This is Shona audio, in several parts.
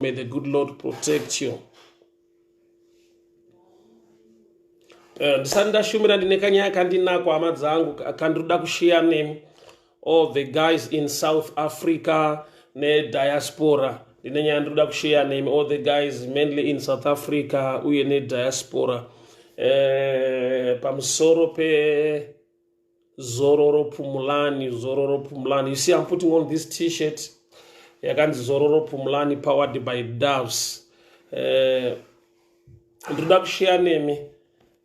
May the good Lord protect you. Eh, ndisati ndashumira ndine kanyaya kandinako hama dzangu kandiroda kushiya nemi all the guys in south africa nediaspora ndine nyaya ndinoda kushiya nemi all the guys mainly in south africa uye nediaspora eh, pamusoro pe zororo pumulani zororo pumulani you see i'm putting on this t-shirt yakanzi zororo pumulani powered by doves eh, ndinoda uh, kusheya nemi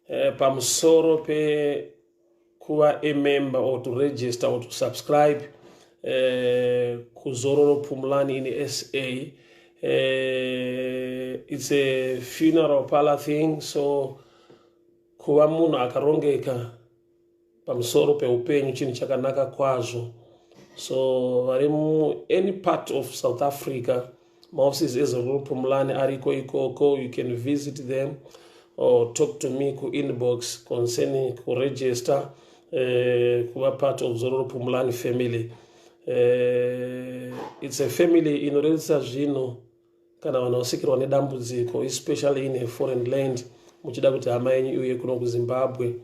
uh, pamusoro pekuva a member or to register or to subscribe uh, kuzororo pumulani in sa uh, it's a funeral parlor thing so kuva munhu akarongeka pamusoro peupenyu chinhu chakanaka kwazvo so vari any part of south africa maoffices ezororo pumulani ariko ikoko you can visit them or talk to me kuinbox concerning kuregister uh, kuva part of zororo pumulani family uh, it's a family inorerutsa zvinhu kana vanhu vasikirwa nedambudziko especially in a foreign land muchida kuti hama yenyu iuye kuno kuzimbabwe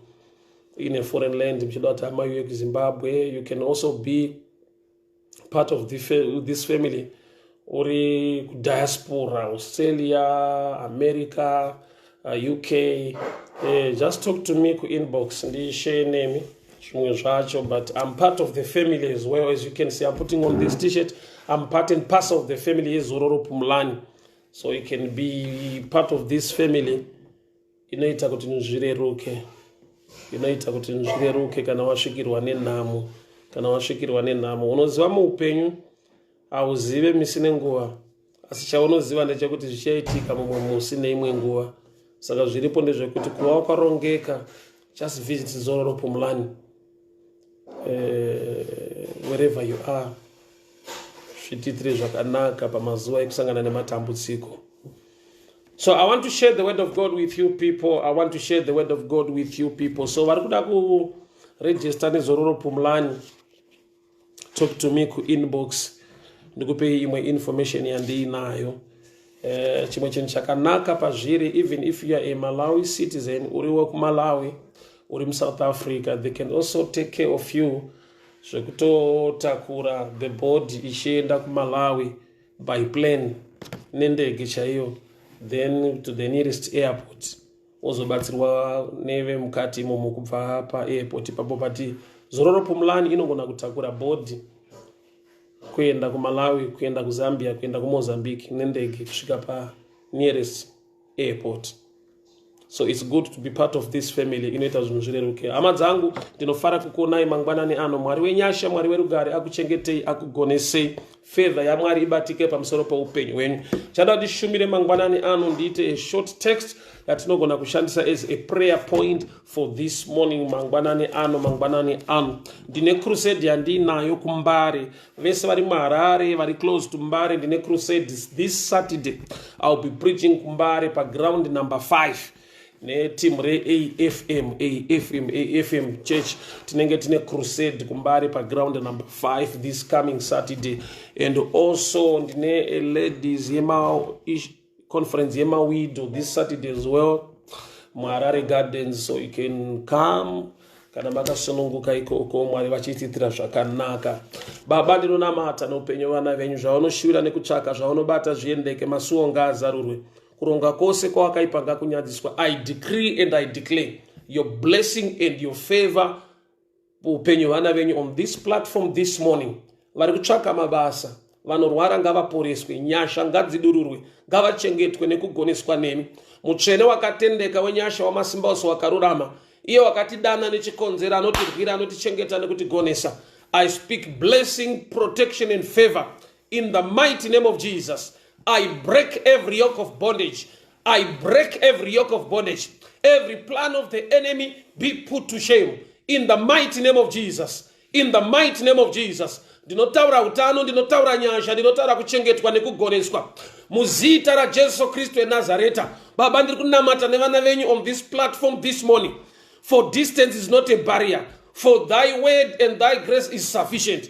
in a foreign land muchida kuti hama iuye kuzimbabwe you can also be part of this family uri kudiaspora australia america uh, uk uh, just talk to me kuinbox ndishare nemi zvimwe zvacho but im part of the family as well as you can see im putting on this t-shirt im part and pass of the family yezororo pumulani so you can be part of this family inoita kuti nzvireruke inoita kuti nzvireruke kana wasvikirwa nenhamo kana wasvikirwa nenhamo unoziva muupenyu Hauzive misi nenguva, asi chaunoziva ndechekuti zvichaitika mumwe musi neimwe nguva. Saka zviripo ndezvekuti kuva wakarongeka, just visit Zororo Pumlani, uh, eh, wherever you are, zvitiitire zvakanaka pamazuva ekusangana nematambudziko. So I want to share the word of God with you people. I want to share the word of God with you people. So vari kuda kuregister nezororo Pumlani. talk to me kuinbox ndikupei imwe information yandiinayo eh, chimwe chinhu chakanaka pazviri even if you are a malawi citizen uri wekumalawi uri musouth africa they can also take care of you zvekutotakura the body ichienda kumalawi by plane nendege chaiyo then to the nearest airport wozobatsirwa nevemukati imomo kubva paairport ipapo pati zororo pumulani inogona kutakura bhodhi kuenda kumalawi kuenda kuzambia kuenda kumozambique nendege kusvika panearest airport so its good to be part of this family inoita zvinhu zvireruke hama dzangu ndinofara kukuonai mangwanani ano mwari wenyasha mwari werugare akuchengetei akugonesei Favor yaMwari ibatike pamusoro peupenyu hwenyu. Chada kuti shumire mangwanani ano ndiite a short text yatinogona kushandisa as a prayer point for this morning mangwanani ano mangwanani ano ndine crusade yandiinayo kumbare vese vari muharare vari close to mbare ndine crusade this saturday iwill be preaching kumbare paground number 5 neteam reafm afm afm church tinenge tine crusade kumbare paground number 5 this coming saturday and also ndine ladies yema conference yemawido this saturday as well muharare gardens so you can come kana makasununguka ikoko mwari vachitiitira zvakanaka baba ndinonamata noupenyu vana venyu zvavanoshuvira nekutsvaka zvavanobata zviendeke masuwo ngaazarurwe kuronga kose kwawakaipa ngakunyadziswa i decree and i declare your blessing and your favor upenyu vana venyu on this platform this morning vari kutsvaka mabasa vanorwara ngavaporeswe nyasha ngadzidururwe ngavachengetwe nekugoneswa nemi mutsvene wakatendeka wenyasha wamasimba ose wakarurama iye wakatidana nechikonzero anotirwira anotichengeta nekutigonesa i speak blessing protection and favor In the mighty name of Jesus, I break every yoke of bondage. I break every yoke of bondage. Every plan of the enemy be put to shame. In the mighty name of Jesus. In the mighty name of Jesus. ndinotaura utano ndinotaura nyasha ndinotaura kuchengetwa nekugoneswa muzita rajesu kristu enazareta baba ndiri kunamata nevana venyu on this platform this morning for distance is not a barrier for thy word and thy grace is sufficient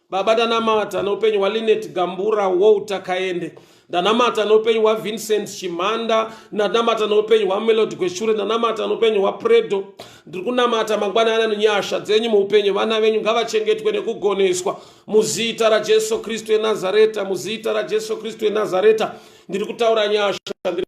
Baba ndanamata noupenyu hwaLinet Gambura Walter Kaende ndanamata noupenyu hwaVincent Chimhanda ndanamata noupenyu hwaMelody Gweshure ndanamata noupenyu hwaPredo ndiri kunamata mangwana ana nenyasha dzenyu muupenyu vana venyu ngavachengetwe nekugoneswa muzita raJesu Kristu eNazareta muzita raJesu Kristu eNazareta ndiri kutaura nyasha ndiri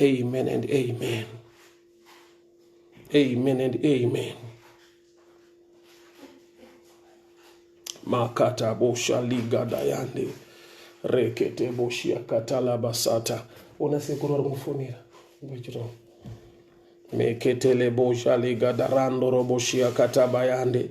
Amen and amen. Amen and amen. Makata bosha liga dayande rekete boshia katala basata ona sekuru ari kufonera ngwechiro meketele bosha liga darando roboshia katabayande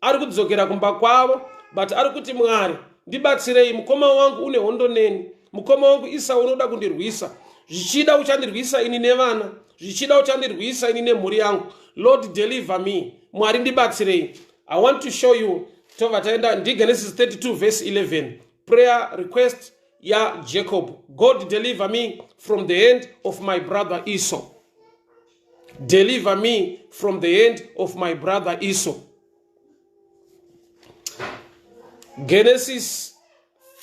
ari kudzokera kumba kwavo but ari kuti mwari ndibatsirei mukoma wangu une hondo neni mukoma wangu isa unoda kundirwisa zvichida uchandirwisa ini nevana zvichida uchandirwisa ini nemhuri yangu lord deliver me mwari ndibatsirei i want to show you tova taenda ndigenesis 32 verse 11 prayer request yajacob god deliver me from the hand of my brother esau deliver me from the hand of my brother Esau. Genesis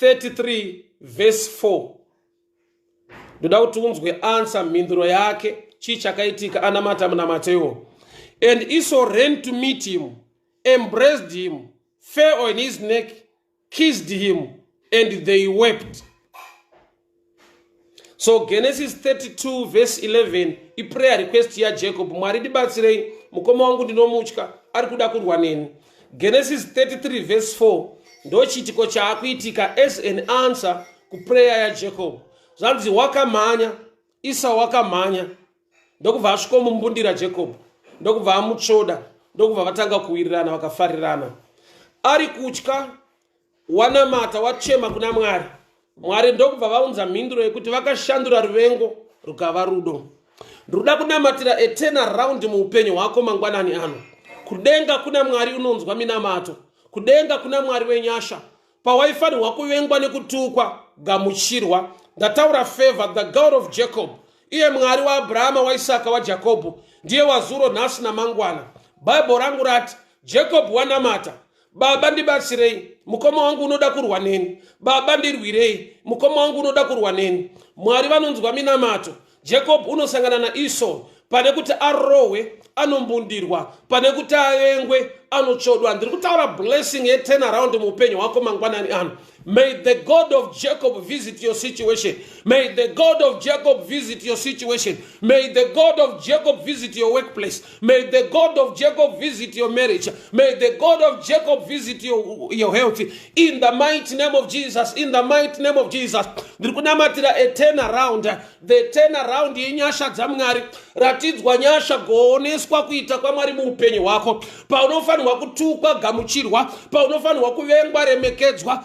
33 verse 4 ndoda kuti unzwe ansa mhinduro yake chii chakaitika anamata munamatewo and Esau ran to meet him embraced him fell on his neck kissed him and they wept so genesis 32 verse 11 iprayer request yajacob mwari ndibatsirei mukoma wangu ndinomutya ari kuda kurwa neni genesis 33 verse 4 ndochiitiko chaakuitika as an answer kuprayer yajacob zvanzi wakamhanya isa wakamhanya ndokubva asvikomumbundira jacob ndokubva amutsvoda ndokubva vatanga kuwirirana vakafarirana ari kutya wanamata wachema kuna mwari mwari ndokubva vaunza mhinduro yekuti vakashandura ruvengo rukava rudo ndoda kunamatira etena round muupenyu hwako mangwanani ano kudenga kuna mwari unonzwa minamato kudenga kuna mwari wenyasha pawaifanirwa kuvengwa nekutukwa gamuchirwa ndataura favor the god of jacob iye mwari waabrahama waisaka wajakobho ndiye wazuro nhasi namangwana bhaibho rangu rati jacob wanamata baba ndibatsirei mukoma wangu unoda kurwa neni baba ndirwirei mukoma wangu unoda kurwa neni mwari vanonzwa minamato jacob unosangana naesau pane kuti arohwe anombundirwa pane kuti avengwe anotsvodwa ndiri kutaura blessing yeturnaround muupenyu hwako mangwanani ano may the god of jacob visit your situation may the god of jacob visit your situation may the god of jacob visit your workplace May the God of Jacob visit your marriage. May the God of Jacob visit your, your health. In the mighty name of Jesus. In the mighty name of Jesus. Ndiri kunamatira a turn around. The turn around yenyasha dzamwari. Ratidzwa nyasha gooneswa kuita kwamwari muupenyu hwako. Paunofanirwa kutukwa gamuchirwa. Paunofanirwa kuvengwa remekedzwa.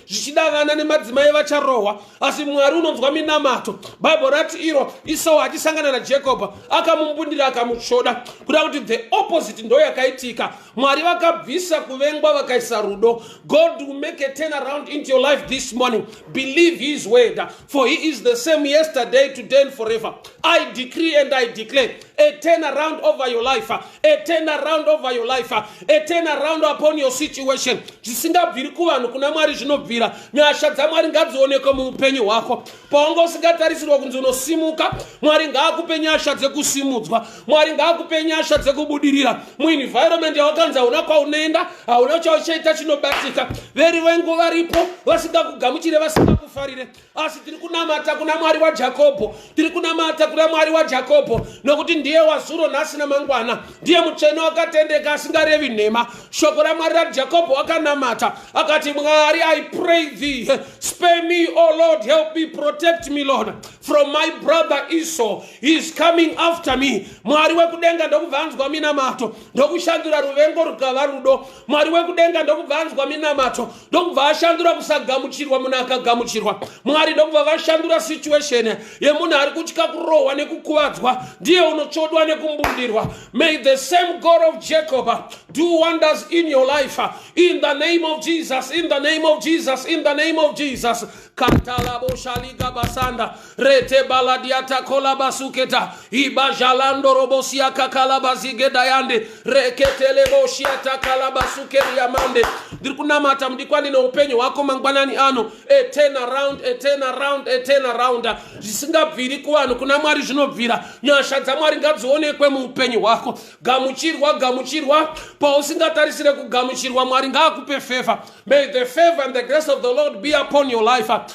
zvichida vana nemadzimai vacharohwa asi mwari unonzwa minamato bhaibheri rati iro isau achisangana najekobha akamumbundira akamutsvoda kuda kuti the opposite ndo yakaitika mwari vakabvisa kuvengwa vakaisa rudo god will make a turn around into your life this morning believe his word for he is the same yesterday today and forever i decree and i declare a turn around over your life a turn around over your life a turn around upon your situation zvisingabviri kuvanhu kuna mwari zvinobvira nyasha dzamwari ngadzionekwe muupenyu hwako paunga usingatarisirwa kunzi unosimuka mwari ngaakupe nyasha dzekusimudzwa mwari ngaakupe nyasha dzekubudirira muenvironment yawakanzi hauna kwaunoenda hauna chauchaita chinobatika verivengo varipo vasingakugamuchire vasingakufarire asi tiri kunamata kuna mwari wajakobho tiri kunamata kuna mwari wajakobho nokuti ndiye wazuro nhasi namangwana ndiye mutsvene wakatendeka asingarevi nhema shoko ramwari rajakobho wakanamata akati mwari i pray thee spare me o oh lord help me protect me lord from my brother esau he is coming after me mwari wekudenga ndokubva anzwa minamato ndokushandura ruvengo rukava rudo mwari wekudenga ndokubva anzwa minamato ndokubva ashandura kusagamuchirwa munhu akagamuchirwa mwari ndokubva vashandura situation yemunhu ari kutya kurohwa nekukuvadzwa ndiye unotsvodwa nekumbudirwa may the same god of jacob do wonders in your life in the name of jesus in the name of jesus in the name of jesus katalaboshaligabasanda rete baladiata kolabasuketa ibajalando robosia kakalabazigedayande reketeleboshiata kalabasukeriamande ndiri kunamata mudikwani neupenyu hwako mangwanani ano etenaround etenaround etenaround zvisingabviri kuvanhu kuna mwari zvinobvira nyasha dzamwari ngadzionekwe muupenyu hwako gamuchirwa gamuchirwa pausingatarisire kugamuchirwa mwari ngaakupe favor may the favor and the grace of the lord be upon your life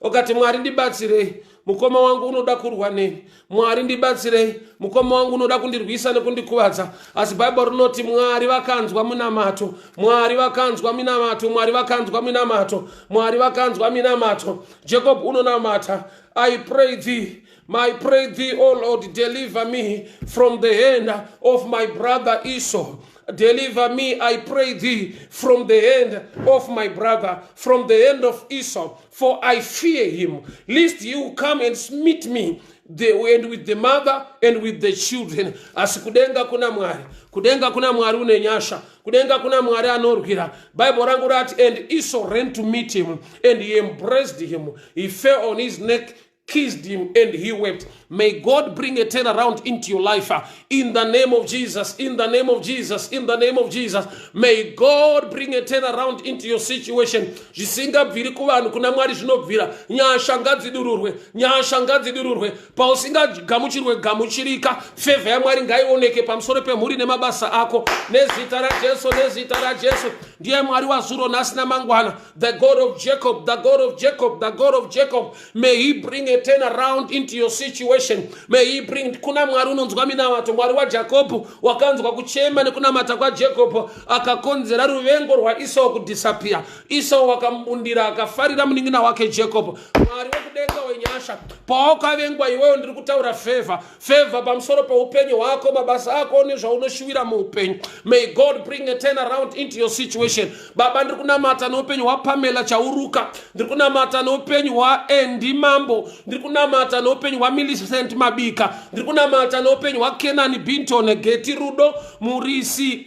ukati mwari ndibatsirei mukoma wangu unoda kurwa neni mwari ndibatsirei mukoma wangu unoda kundirwisa nekundikuvadza asi bhaibheri rinoti mwari vakanzwa minamato mwari vakanzwa minamato mwari vakanzwa minamato mwari vakanzwa minamato jacob unonamata i pray thee My pray thee, O Lord, deliver me from the hand of my brother Esau. Deliver me, I pray thee, from the hand of my brother, from the hand of Esau, for I fear him, lest he will come and smite me the, and with the mother and with the children asi kudenga kuna mwari kudenga kuna mwari une nyasha kudenga kuna mwari anorwira bible rangu rati and esau ran to meet him and he embraced him he fell on his neck kissed him and he wept. May God bring a turnaround into your life. Uh, in the name of Jesus, in the name of Jesus, in the name of Jesus. May God bring a turnaround into your situation. Zvisingabviri kuvanhu kuna Mwari zvinobvira. Nyasha ngadzidururwe, nyasha ngadzidururwe. Pausingagamuchirwe gamuchirika, favor yaMwari ngaioneke pamusoro pemhuri nemabasa ako. Nezita raJesu, nezita raJesu. Ndiye Mwari wazuro nhasi namangwana. The God of Jacob, the God of Jacob, the God of Jacob. may he bring a turn around into your situation may he bring kuna mwari unonzwa minamato mwari wajakobho wakanzwa kuchema nekunamata kwajekobho akakonzera ruvengo rwaisau kudisappear isau wakamubundira akafarira munin'ina wake jekobho mwari wekudenga wenyasha pawakavengwa iweyo ndiri kutaura favor Favor pamusoro peupenyu hwako, mabasa ako nezvaunoshuwira muupenyu. May God bring a turn around into your situation. Baba ndiri kunamata neupenyu hwaPamela Chauruka, ndiri kunamata neupenyu hwaAndy Mambo, ndiri kunamata neupenyu hwaMillicent Mabika, ndiri kunamata neupenyu hwaKenani Binton Geti Rudo Murisi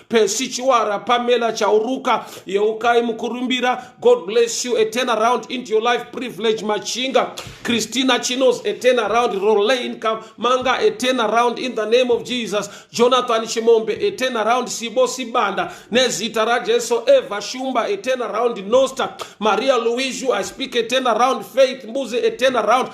Percy Chiwara, Pamela Chauruka, Yeukai Mukurumbira, God bless you, a turnaround into your life, Privilege Machinga, Christina Chinos, a turnaround, Rolaine Manga, a turnaround in the name of Jesus, Jonathan Shimombe, a turnaround, Sibo Sibanda, Nezita Rajeso, Eva Shumba, a turnaround, Nosta, Maria Luizu, I speak a turnaround, Faith Mbuzi, a turnaround,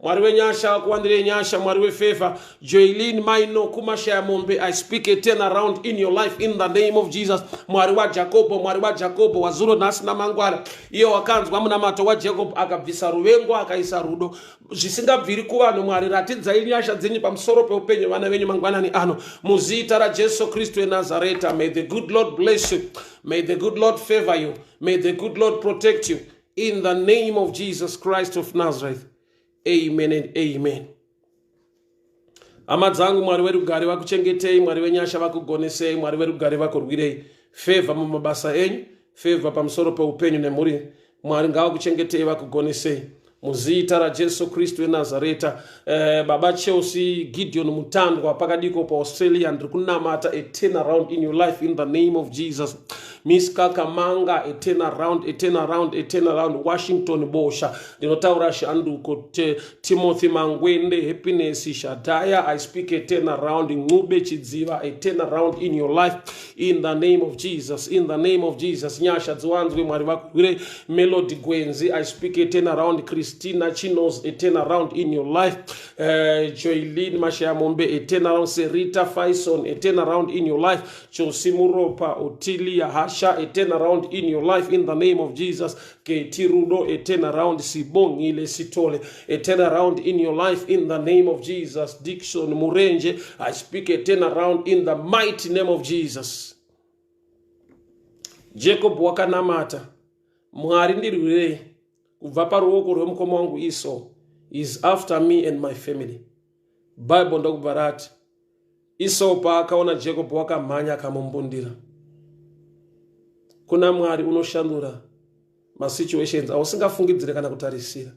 mwari wenyasha akuwandirei nyasha mwari wefevha joilin maino kumashaya mombe i speak a turn around in your life in the name of jesus mwari wajakobho mwari wajakobho wazuro nhasi namangwara iye wakanzwa munamato wajacob akabvisa ruvengo akaisa rudo zvisingabviri kuvanhu mwari ratidzai nyasha dzenyu pamusoro peupenyu vana venyu mangwanani ano muzita rajesu kristu enazareta may the good lord bless you may the good lord favor you may the good lord protect you In the name of Jesus Christ of Nazareth. Amen and amen. Hama dzangu Mwari werugare vakuchengetei, Mwari venyasha vakugonesei, Mwari verugare vakurwirei. Favor mumabasa enyu, favor pamusoro peupenyu nemhuri. Mwari ngavakuchengetei vakugonesei. Muzita raJesu Kristu weNazareta. Eh, baba chelsea gideon mutandwa pakadiko paaustralia ndiri kunamata a turn around in your life in the name of jesus miss kakamanga a turn around a turn around a turn around washington bosha ndinotaura shanduko te, timothy mangwende happiness shadhaya i speak a turn around ncube chidziva a turn around in your life in the name of jesus in the name of jesus nyasha dziwanzwe mwari vakuhwire melody gwenzi i speak a turn around christina chinos a turn around in your life uh, eh, joilin mashaya mombe a turn around serita faison a turn around in your life chosi muropa otilia hasha a turn around in your life in the name of jesus Keti Rudo, a turnaround. Sibongile Sithole, a turnaround in your life in the name of Jesus. Dixon Murenje, I speak a turnaround in the mighty name of Jesus. Jacob wakanamata, Mwari ndirwirei kubva paruoko rwemukoma wangu Esau is after me and my family. Bible ndokubva rati, Isau paakaona Jakobho wakamhanya akamumbundira. Kuna Mwari unoshandura masituations ausingafungidzire kana kutarisira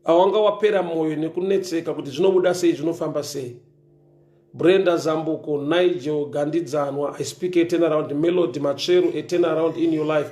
awanga wapera mwoyo nekunetseka kuti zvinobuda sei zvinofamba sei brenda zambuko nigel gandidzanwa i speak a turnaround melody matsveru a turnaround in your life